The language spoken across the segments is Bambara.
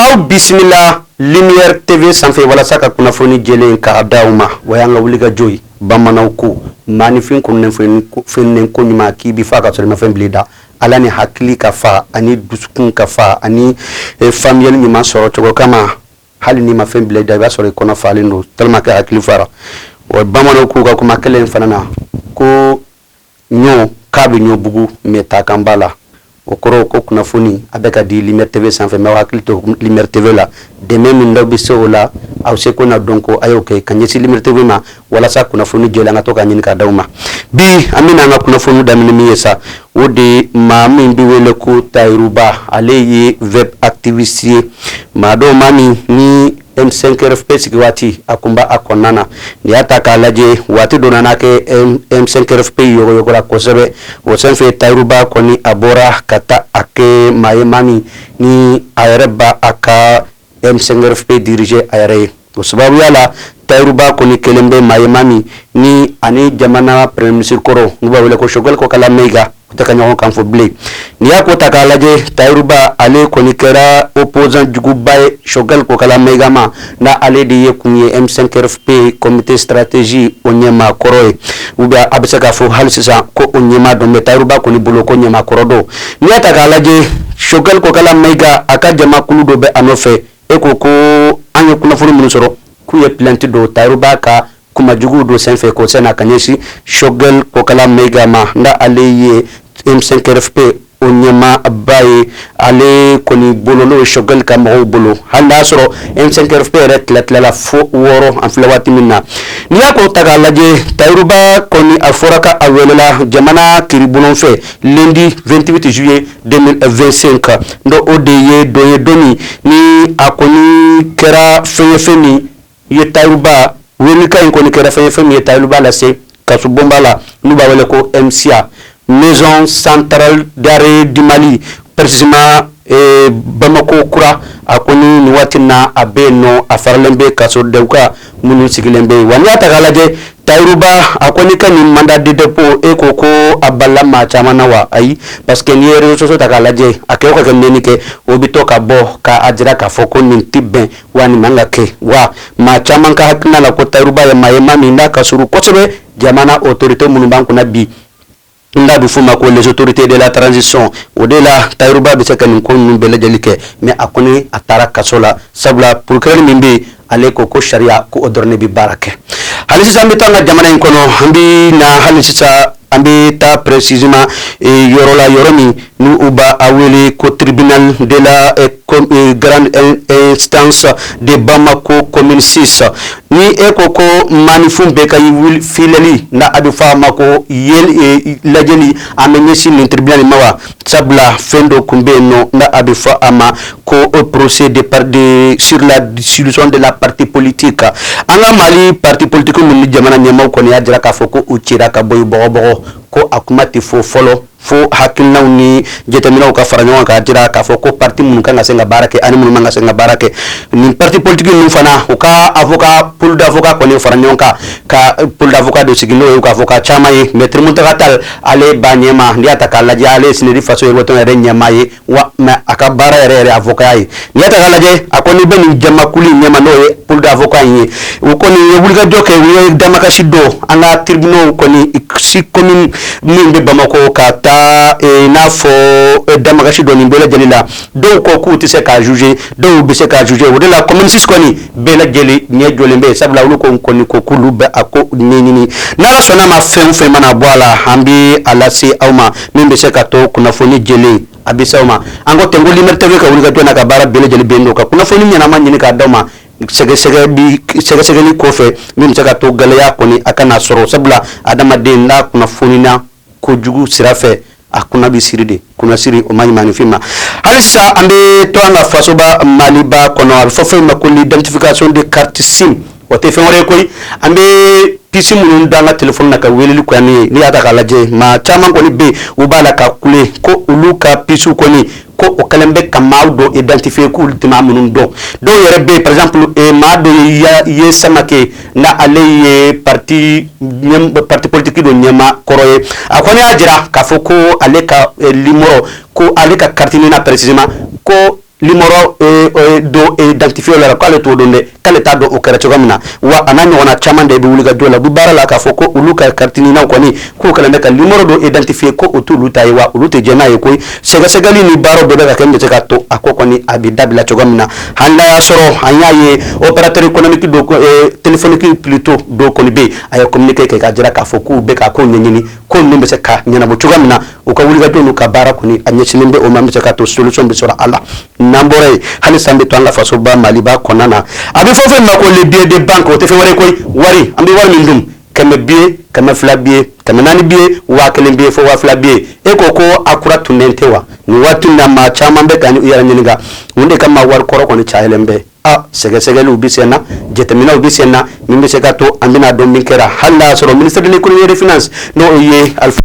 aw bisimila lumière tv sanfɛ walasa ka kunnafoni jɛlen k'a di aw ma o y'an ka wulikajɔ ye bamananw ko maanifin kununen feninen ko ɲuman k'i bi fa ka sɔrɔ i ma fɛn bil'i da la ani hakili ka fa ani dusukun ka fa ani e, faamuyali ɲuman sɔrɔ cogo kama hali n'i ma fɛn bila i da i b'a sɔrɔ i kɔnɔ falen don tellement que hakili fara wa bamananw k'u ka kuma kelen fana na ko Ɲɔ k'a bɛ ɲɔ bugu mais ta kan b'a la o kɔrɔ ko kunnafoni a bɛ ka di lumière tv sanfɛ mais hakili to lumière tv la dɛmɛ min da bɛ se o la aw seko n'aw dɔnko a y'o kɛ ka ɲɛsin lumière tv ma walasa kunnafoni jɛlen an ka to ka ɲini ka d'aw ma bi an bɛna an ka kunnafoni daminɛ min ye sa o de maa min bɛ wele ko Tayiruba ale ye web activiste ye maa don maa min ni M5 RFP sigi waati a kun b'a kɔnɔna na n'i y'a ta k'a lajɛ waati dɔ nana kɛ M5 RFP yɔgɔyɔgɔra kosɛbɛ o senfɛ Tayiruba kɔni a bɔra ka taa a kɛ maa ye maa min ni a yɛrɛ b'a a ka M5 RFP diriger a yɛrɛ ye o sababuya la Tayiruba kɔni kɛlen bɛ maa ye maa min ni ani jamana Premier ministre kɔrɔ n'u b'a wele ko Choguel Kokala Mayiga u tɛ ka ɲɔgɔn kan fɔ bilen n'i y'a ko ta k'a lajɛ tayiruba ale kɔni kɛra opposant juguba ye Choguel Kokala Mayiga ma n'ale de ye kun ye M5 RFP comité stratégie o ɲɛmaa kɔrɔ ye ou bien a bɛ se k'a fɔ hali sisan ko o ɲɛmaa don mais tayiruba kɔni bolo ko ɲɛmaa kɔrɔ don n'i y'a ta k'a lajɛ Choguel Kokala Mayiga a ka jamakulu dɔ bɛ a nɔfɛ e ko ko an ye kunnafoni minnu sɔrɔ k'u ye plainte don tayiruba ka kuma juguw dɔ senfɛ kɔsa in na ka ɲɛsin Choguel Kokala Mayiga ma n'ale ye M5 RFP o ɲɛmaba ye ale kɔni bolo n'o ye Choguel ka mɔgɔw bolo hali n'a sɔrɔ M5 RFP yɛrɛ tilatilala fo wɔɔrɔ an filɛ waati min na n'i y'a ko ta k'a lajɛ Tayiruba kɔni a fɔra k'a welela jamana kiribon fɛ lundi vingt-huit juillet deux mille vingt-cinq n'o de ye don ye don min ni a kɔni kɛra fɛn ye fɛn min ye Tayiruba welekan in kɔni kɛra fɛn ye fɛn min ye Tayiruba lase kasobonba la n'u b'a wele ko MCA Maison centrale d'arrêt du Mali précisément Bamakɔ kura a kɔni nin waati na a bɛ yen nɔ a faralen bɛ kasodenw kan minnu sigilen bɛ yen wa n'i y'a ta k'a lajɛ Tayiruba a kɔni ka nin mandat de dépôt e ko ko a bala maa caman na wa ayi parce que n'i ye réseaux sociaux ta k'a lajɛ a kɛ ka kɛ neni kɛ o bɛ to ka bɔ k'a jira k'a fɔ ko nin tɛ bɛn wa nin man ka kɛ wa maa caman ka hakilina la ko Tayiruba ye maa ye maa min n'a ka surun kosɛbɛ jamana autorité minnu b'an kunna bi n da bɛ f'o ma ko les autorités de la transition o de la Tayiruba bɛ se ka nin ko ninnu bɛɛ lajɛlen kɛ mais a kɔni a taara kaso la sabula procureur min bɛ yen ale ko ko sariya ko o dɔrɔn de bɛ baara kɛ hali sisan an bɛ taa an ka jamana in kɔnɔ an bɛ na hali sisan An bɛ taa précisément yɔrɔ la yɔrɔ min n'u b'a wele ko tribunal de la grande instance de Bamako commune six ni e ko ko maanifin bɛ ka filɛli n'a bɛ fɔ a ma ko lajɛli a bɛ ɲɛsin nin tribunal ma wa sabula fɛn dɔ tun bɛ yen nɔ n'a bɛ fɔ a ma ko procès de de sur la dissolution de la partie politique kan an ka Mali parti politique ninnu jamana ɲɛmaaw kɔni y'a jira k'a fɔ ko u cira ka bɔ bɔgɔbɔgɔ ko a kuma tɛ fɔ fɔlɔ fo hakilinaw ni jateminɛw ka fara ɲɔgɔn kan k'a jira k'a fɔ ko parti minnu kan ka se ka baara kɛ ani minnu man ka se ka baara kɛ nin parti politique ninnu fana u ka avocat pool d'avocats kɔni fara ɲɔgɔn kan ka pool d'avocats dɔ sigi n'o ye k'a fɔ ka caman ye maître Mountaga Tall ale b'a ɲɛma n'i y'a ta k'a lajɛ ale ye CNID Faso Yiriwa Tɔn yɛrɛ ɲɛmaa ye wa mais a ka baara yɛrɛ yɛrɛ avokaya ye n'i y'a ta k'a lajɛ a kɔni bɛ nin jamakulu in ɲɛma n'o ye pool d'avocats in ye u kɔni ye wulikajɔ kɛ u ye damakasi don an ka tribunaux kɔni six communes min bɛ bamakɔ ka taa e, n'a fɔ e, damakasi don nin bɛɛ lajɛlen la dɔw ko k'u tɛ se k'a juger dɔw bɛ se k'a juger o de la commune six kɔni bɛɛ lajɛlen ɲɛ jɔlen bɛ sabula olu ko kɔni ko k'olu bɛ a ko ɲɛɲini n'Ala sɔnna a ma fɛn o fɛn mana bɔ a la an bɛ a lase aw ma min bɛ se ka to kunnafoni jɛlen a bɛ se aw ma an ko ten ko Lumière TV ka wulikajɔ n'a ka baara bɛɛ lajɛlen bɛ yen nɔ ka kunnafoni ɲɛnama ɲini k'a d'aw ma sɛgɛsɛgɛ sɛgɛsɛgɛli kɔfɛ min bɛ se ka to gɛlɛya kɔni a kana sɔrɔ sabula adamaden n'a kunnafonina kojugu sira fɛ a kunna bɛ siri de kunsiri o man ɲi maanifin ma hali sisan an bɛ to an ka fasoba maliba kɔnɔ a bɛ fɔ fɛn ma ko l'identification des cartes SIM o tɛ fɛn wɛrɛ koyi an bɛ puce minnu don an ka téléphone na ka weleli kɔni ye n'i y'a ta k'a lajɛ maa caman kɔni bɛ u b'a la ka kule ko olu ka puce kɔni ko o kɛlen bɛ ka maaw dɔ identifier k'u tɛ maa minnu dɔn dɔw yɛrɛ bɛ yen par exemple e maa dɔ Yeah Samakɛ n'ale ye parti politique dɔ ɲɛmaa kɔrɔ ye a kɔni y'a jira k'a fɔ ko ale ka limɔrɔ ko ale ka carte NINA précisément ko limɔrɔ dɔ identifier la k'ale t'o dɔn dɛ k'ale t'a dɔn o kɛra cogoya min na wa a n'a ɲɔgɔnna caman de bɛ wulikajɔ la du baara la k'a fɔ ko olu ka carte NINAw kɔni k'u kɛlen bɛ ka nimɔrɔ dɔ identifier ko o t'olu ta ye wa olu tɛ jɛn n'a ye koyi sɛgɛsɛgɛli ni baaraw bɛɛ bɛ ka kɛ min bɛ se ka to a ko kɔni a bɛ dabila cogoya min na hali n'a y'a sɔrɔ an y'a ye opérateur économique dɔ eh, téléphonique plutôt dɔ kɔni bɛ yen a ye communiqué kɛ k'a jira k'a fɔ k'u bɛ k'a ko ɲɛɲini ko ninnu bɛ se ka ɲɛnabɔ cogoya min na u ka wulikajɔ n'u ka baara kɔni a ɲɛsinnen bɛ o ma min bɛ se ka to solution bɛ sɔrɔ a la n'an bɔra yen halisa an bɛ to an ka fasoba maliba kɔnɔna na a bɛ fɔ fɛn ma ko le billet de banque o tɛ fɛn wɛrɛ koyi wari an bɛ wari min dun kɛmɛ billet kɛmɛ fila billet kɛmɛ naani billet waa kelen billet fo waa fila billet e ko ko a kura tunnen tɛ wa nin waati in na maa caman bɛ ka u yɛrɛ ɲininka mun de kama wari kɔrɔ kɔni cayalen bɛ a sɛgɛsɛgɛliw bɛ sen na jateminɛw bɛ sen na min bɛ se ka to an bɛna dɔn min kɛra hali n'a y'a sɔrɔ ministre de l'économie et des finances n'o ye Alifa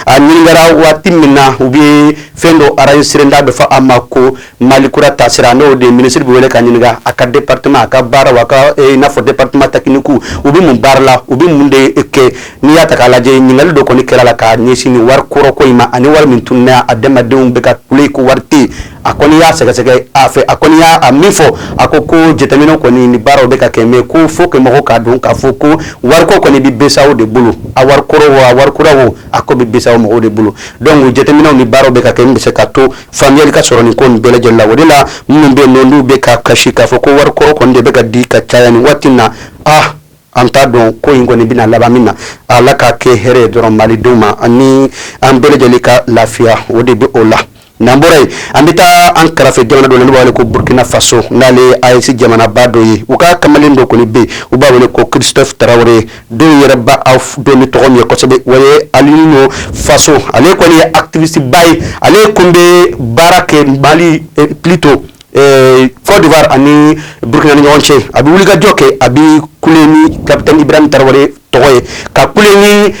a ɲininkara waati min na u bɛ fɛn dɔ enregistrer n'a bɛ fɔ a ma ko mali kura taasira n'o de minisiri bɛ wele ka ɲininka a ka département a ka baaraw a ka n'a fɔ département technique u bɛ mun baara la u bɛ mun de kɛ n'i y'a ta k'a lajɛ ɲininkali dɔ kɔni kɛr'a la ka ɲɛsin wari kɔrɔko in ma ani wari min tununna hadamadenw bɛ ka kule ko wari a kɔni y'a sɛgɛsɛgɛ a fɛ a kɔni y'a min fɔ a ko ko jateminɛ kɔni ni baaraw bɛ ka kɛ mais ko faut que mɔgɔw k'a dɔn k'a fɔ ko wariko kɔni bɛ BCEAO de bolo a wari kɔrɔ wa wari kura o a ko bɛ BCEAO mɔgɔw de bolo donc jateminɛw ni baaraw bɛ ka kɛ min bɛ se ka to faamuyali ka sɔrɔ nin ko nin bɛɛ lajɛlen la o de la minnu bɛ n'olu bɛ ka kasi k'a fɔ ko wari kɔrɔ kɔni de bɛ ka di ka caya nin waati na ah an t'a dɔn ko in kɔni bɛna laban min na ala k'a kɛ hɛrɛ dɔrɔn malidenw ma ani an bɛɛ lajɛlen ka lafiya o de bɛ o la N'an bɔra yen an bɛ taa an kɛrɛfɛ jamana dɔ la n'u b'a wele ko burukina faso n'ale AES jamanaba dɔ ye u ka kamalen dɔ kɔni bɛ u b'a wele ko Christophe tarawele dɔw yɛrɛ b'a dɔn ni tɔgɔ min ye kosɛbɛ o ye Alino Faso ale kɔni ye activisteba ye ale tun bɛ baara kɛ Mali plutôt Kɔdiwa ani burukinana ɲɔgɔn cɛ a bɛ wuli kajɔ kɛ a bɛ ku ni kabini bɛ tarawele tɔgɔ ye ka ku ni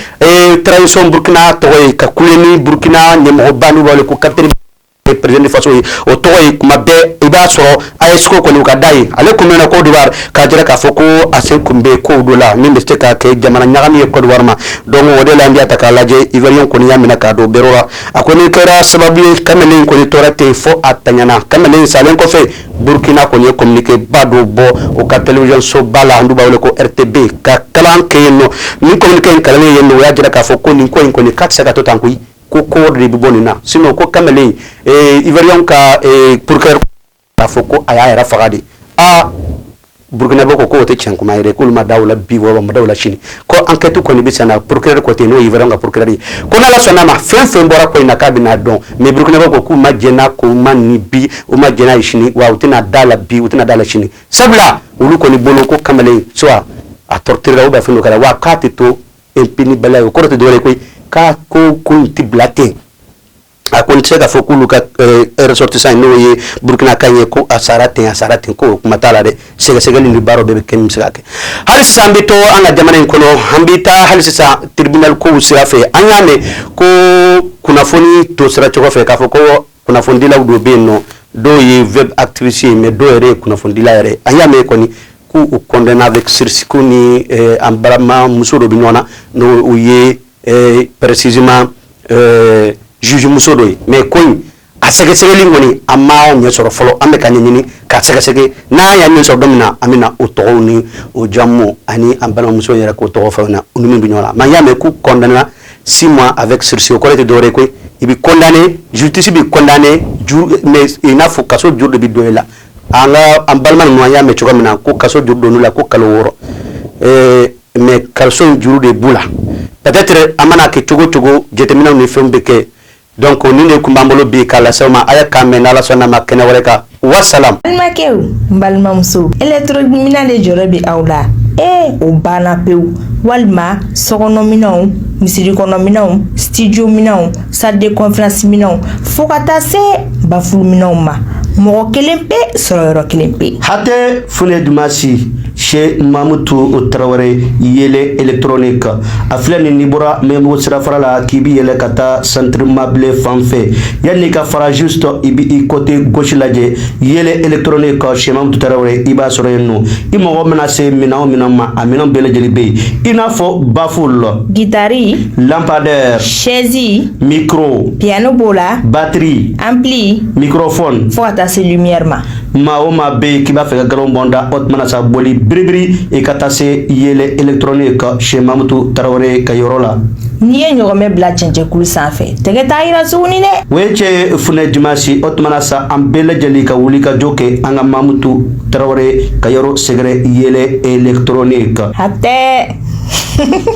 tarawelec burukina tɔgɔ ye ka ku ni burukina nimɔgɔ ban wale ko kate pererfaso ye o tɔgɔ ye kuma bɛɛ i b'a sɔrɔ a ye sogo kɔni kada ye ale tun bɛ ko k'a jira k'a fɔ ko a se kun bɛ ko don la min bɛ se ka kɛ jamana ɲaga ye kɔwa ma dɔn o de la an ta k'a lajɛ i bɛ kɔniya minɛ ka don bere la a kɔni kɛra sababu ye kamalen in kɔni tora ten fo a tiɲɛna kamalen in salen kɔfɛ burukina kɔni ye communiquéba dɔ bɔ u ka télévision soba la n'u b'a wele ko RTB k'a kalan kɛ yen nɔ ni communiqué in kalannen yen nɔ o y'a jira k'a fɔ ko nin ko in kɔni k'a tɛ se ka to tan koyi ko ko de bɛ bɔ nin na sinon ko kamalen in ivoirienw ka procureur k'a fɔ ko a y'a yɛrɛ faga de aa burukinabe ko k'o tɛ tiɲɛ kuma ye dɛ k'olu ma da o la bi wa olu ma da o la sini ko ankɛti kɔni bɛ senna procureur ko ten n'o ye ivoirienw ka procureur ye ko n'ala sɔnna ma fɛn fɛn bɔra ko in na k'a bɛna dɔn mais burukinabe ko k'u ma jɛn n'a kuma nin bi u ma jɛn n'a ye sini wa u tɛna d'a la bi u tɛna d'a la sini sabula olu kɔni bolo ko kamalen soit a torturera ou bien fɛn dɔ kɛr'a la wa k'a tɛ to impuni baliya ye o kɔrɔ tɛ dɔwɛrɛ ye koyi k'a ko ko in tɛ bila ten a ko n tɛ se k'a fɔ k'olu ka eh, ressortissant ye n'o ye burkinaka in ye ko a sara ten a sara ten ko o kuma t'a la dɛ sɛgɛsɛgɛli ni baaraw bɛɛ bɛ kɛ min bɛ se ka kɛ hali sisan an bɛ to an ka jamana in kɔnɔ an bɛ taa hali sisan tribunal kow sira fɛ an y'a mɛn ko kunnafoni to sira cogo fɛ k'a fɔ ko kunnafonidilaw dɔ bɛ yen nɔ dɔw ye web activiste ye mais dɔw yɛrɛ ye kunnafonidila yɛrɛ an y'a mɛn kɔni k'u condamné avec sursis ko ni eh, an balima muso dɔ bɛ ɲɔgɔn na n'o u ye précisément juge muso dɔ mais ko a sɛgɛsɛgɛli kɔni a ma ɲɛ sɔrɔ fɔlɔ an bɛ ka ɲini ka sɛgɛsɛ n'a y'a ɲɛ sɔrɔ don min na an bɛna o tɔgɔ ni o jamu ani an balimamuso yɛrɛ ko tɔgɔ fana u ni min bɛ ɲɔgɔn la mais an y'a mɛn k'u condamné six mois avec sursis kɔrɔ tɛ dɔwɛrɛ koyi i bɛ condamné justice b'i condamné mais i n'a fɔ kaso juru de bɛ don i la an ka an balima ɲɔgɔn y'a mɛn cogo min na ko kaso juru donna u la ko kalo wɔɔrɔ mais kaso juru de b'u la peut-être a mana kɛ cogo cogo jateminɛw ni fɛnw bɛ kɛ donc o nin de tun b'an bolo bi k'a lase aw ma a y'an kan mɛn n'ala sɔnna a ma kɛnɛ wɛrɛ kan wasalamu n balimakɛw n balimamuso électronique minɛn de jɔyɔrɔ bɛ aw la ee o banna pewu walima sokɔnɔminɛnw misirikɔnɔminɛnw studio minɛnw salle de conférence minɛnw fo ka taa se baffle minɛnw ma mɔgɔ kelen pe sɔrɔ yɔrɔ kelen pe hatɛ funɛ dimansi se mamutu tarawele yɛlɛ etrnen kan a filɛ nin ni bɔra mɛbugu sirafara la k'i bɛ yɛlɛ ka taa sanururimabilen fan fɛ yan n'i ka faraji sɔrɔ i bɛ i kɔte gosi lajɛ yɛlɛ etrnen kan sɛtu tarawele i b'a sɔrɔ yen nɔ i mɔgɔ bɛna se minɛn min ma a minɛn bɛɛ lajɛlen bɛ yen i n'a fɔ bafo la gitari lapadɛ sɛzi miro piyɛnani b'o la batiri an bilen miro fɔ fo ka taa se ma maa o maa bɛ yen k'i b'a fɛ ka nkalon bɔ n da o tuma na sa boli biribiri i ka taa se yɛlɛ électronique chez mamutu tarawele ka yɔrɔ la. n'i ye ɲɔgɔnmɛ bila cɛncɛnkulu sanfɛ tɛgɛ t'a yira tuguni dɛ. o ye cɛ funɛ dimansi o tuma na sa an bɛɛ lajɛlen ka wuli ka jɔ kɛ an ka mamutu tarawele ka yɔrɔ sɛgɛrɛ yɛlɛ électronique. hatɛ.